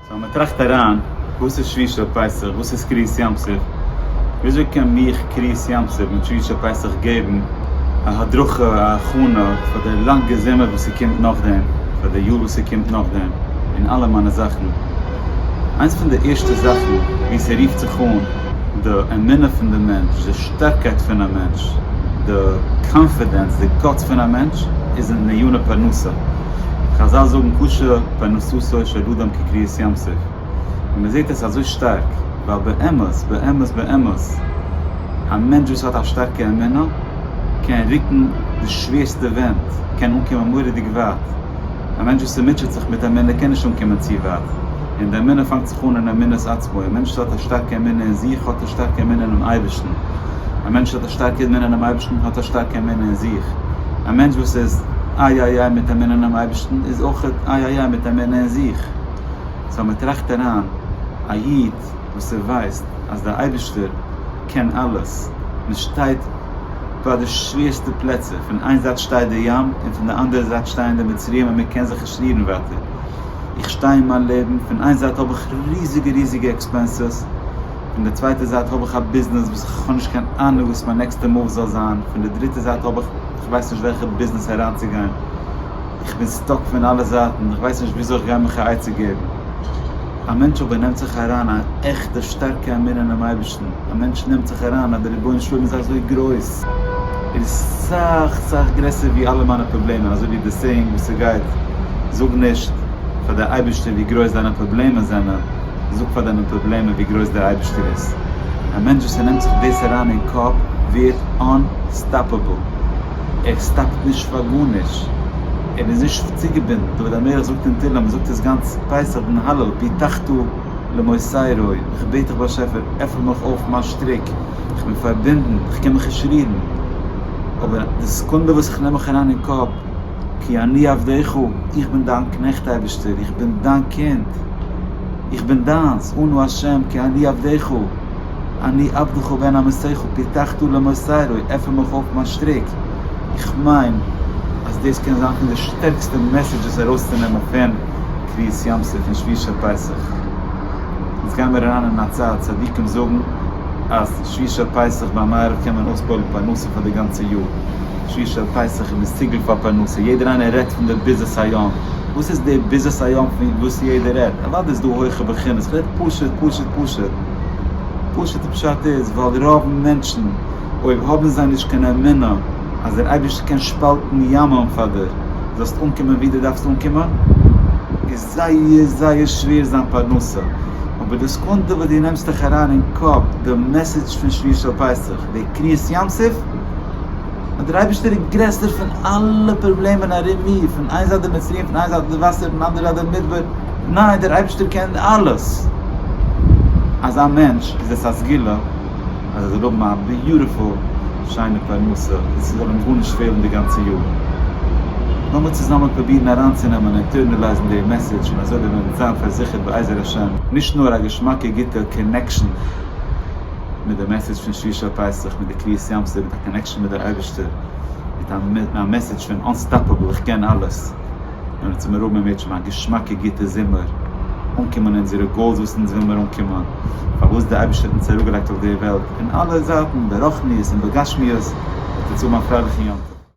סאו מען טראכט אריין, וואס איז שביתה פסח? וואס איז קריעת ים סוף? וויאזוי קען מיך קריעת ים סוף מיט שביתה פסח געבן א הדרכה, א הכנה פאר די לאנגע זומער וואס ס'קומט נאכדעם, פאר די יאר וואס ס'קומט נאכדעם, און אלע מיינע זאכן? איינס פון די ערשטע זאכן וואו ס'רופט זיך אן, די אמונה פון די מענטש, די שטארקייט פון א מענטש, די קאנפידענס, די גאטס פון א מענטש, איז אין די עניני פרנסה. חזל זאגן קשה פרנסתו של אדם כקריעת ים סוף, און מען זעט עס אזוי שטארק, ווייל באמת באמת באמת א מענטש וואס האט א שטארקע אמונה קען רוקן די שווערסטע ווענט, קען אנקומען מורא'דיג ווייט, א מענטש וואס מוטשעט זיך מיט אמונה קען נישט אנקומען צו ווייט, און די אמונה פאנגט זיך אן אין אמונת עצמו, א מענטש וואס האט א שטארקע אמונה אין זיך האט א שטארקע אמונה אינעם אייבערשטן, א מענטש וואס האט א שטארקע אמונה אינעם אייבערשטן האט א שטארקע אמונה אין זיך. א מענטש וואס איז איי איי איי מיט אמונה אינעם אייבערשטן איז אויך איי איי איי מיט אמונה אין זיך, סא מען טראכט אריין, א איד וואס ער ווייסט אז דער אייבערשטער קען אלעס, מען שטייט ביי די שווערסטע פלעצער, פון איין זייט שטייט די ים און פון די אנדערע זייט שטייען די מצריים און מען קען זיך נישט רירן ווייטער, איך שטיי אין מיין לעבן, פון איין זייט האב איך ריזיגע ריזיגע עקספענסעס, פון די צווייטע זייט האב איך א ביזנעס וואס איך האב נישט קיין אהנוג וואס מיין נעקסטע מאוו זאל זיין, פון די דריטע זייט האב איך איך ווייס נישט וועלכע ביזנעס אריינצוגיין, איך בין סטאק פון אלע זייטן, איך ווייס נישט וויאזוי איך גיי מיך א עצה געבן. א מענטש אבער נעמט זיך אריין א עכטע שטארקע אמונה אינעם אייבערשטן, א מענטש נעמט זיך אריין אז דער רבונו של עולם איז אזוי גרויס, ער איז סאך סאך גרעסער ווי אלע מיינע פראבלעמען, אזוי ווי די סעיאינג וואס ס'גייט, זאג נישט פאר די אייבערשטער ווי גרויס דיינע פראבלעמען זענען, זאג פאר דיינע פראבלעמען ווי גרויס דער אייבערשטער איז. א מענטש וואס ער נעמט זיך דאס אריין אין קאפ ווערט אנ-סטאפעבל. ער סטאפט נישט פאר גארנישט. ער איז נישט צוגעבינדן. דוד המלך זאגט אין תהלים, ער זאגט עס גאנץ פסח דעם הלל, פתחתא למוסרי, איך בעט דיך באשעפער, עפן מיך אויף מיין שטריק, איך בין פארבינדן, איך קען מיך נישט רירן. אבער די סעקונדע וואס איך נעם מיך אריין אין קאפ, כי אני עבדך, איך בין דיין קנעכט אייבערשטער, איך בין דיין קינד, איך בין דיינס, אנא השם כי אני עבדך, אני עבדך בן אמתך פתחתא למוסרי, עפן מיך אויף מיין שטריק, איך מיין אז דאס קען זיין פון די שטערקסטע מעסעדזשעס ארויסצונעמען פון קביעות ים סוף און שביעית פסח, אונז גיימיר אריין אין א צייט, צדיקים זאגן אז שביעית פסח ביי מעריב קען מען אויספועלן פרנסה פאר די גאנצע יאר. שיר של פסח איז דאס ציגעלט פאר פרנסה, יעדער איינער רעדט פון די ביזעס היום, וואס איז די ביזעס היום פון וואס יעדער רעדט? אוודאי איז דא הויכע בחינות, כ'רעד פשוט פשוט פשוט, פשוט'ע פשט איז ווייל רוב מענטשן אויב האבן זיי נישט קיין אמונה אז דער אייבערשטער קען שפאלטן ימים פאר דיר זאלסט אנקומען ווי דו דארפסט אנקומען, זייער זייער שווער זיין פרנסה, אבער די סעקונדע וואס דו נעמסט דיך אריין אין קאפ די מעסעדזש פון שביעי של פסח, די קריעת ים סוף, אז דער אייבערשטער איז גרעסער פון אלע פראבלעמען ארום מיר, פון איין זייט די מצרים, פון איין זייט די וואסער, פון אנדערע זייט דער מדבר, ניין דער אייבערשטער קען אלעס, אזא מענטש איז עס א סגולה. אז זיי זאלן האבן א ביוטיפול שיינע פרנסה און ס'זאל אים גארנישט פעלן די גאנצע יאר. לאמיר צוזאמען פרובירן אריינצונעמען און אינטערנעלייזן די מעסעדזש און אזוי וועט מען זיין פארזיכערט בעזר השם. נישט נאר א געשמאקע גוטע קאנעקשאן מיט די מעסעדזש פון שלישי פסח מיט די קריעת ים סוף מיט א קאנעקשאן מיט די אייבערשטער מיט א מעסעדזש פון אנסטאפעבל איך קען אלעס. און האט זיך מרומם מיט שוין א געשמאקע גוטע זומער אנקומען אונזערע גאולס וואס אונז וויל מיר אנקומען פארוואס די אייבערשטער האט אונז אראפגעלייגט אויף די וועלט אין אלע זייטן ברחניות און בגשמיות זאלט אונז האבן א פרייליכן יום טוב.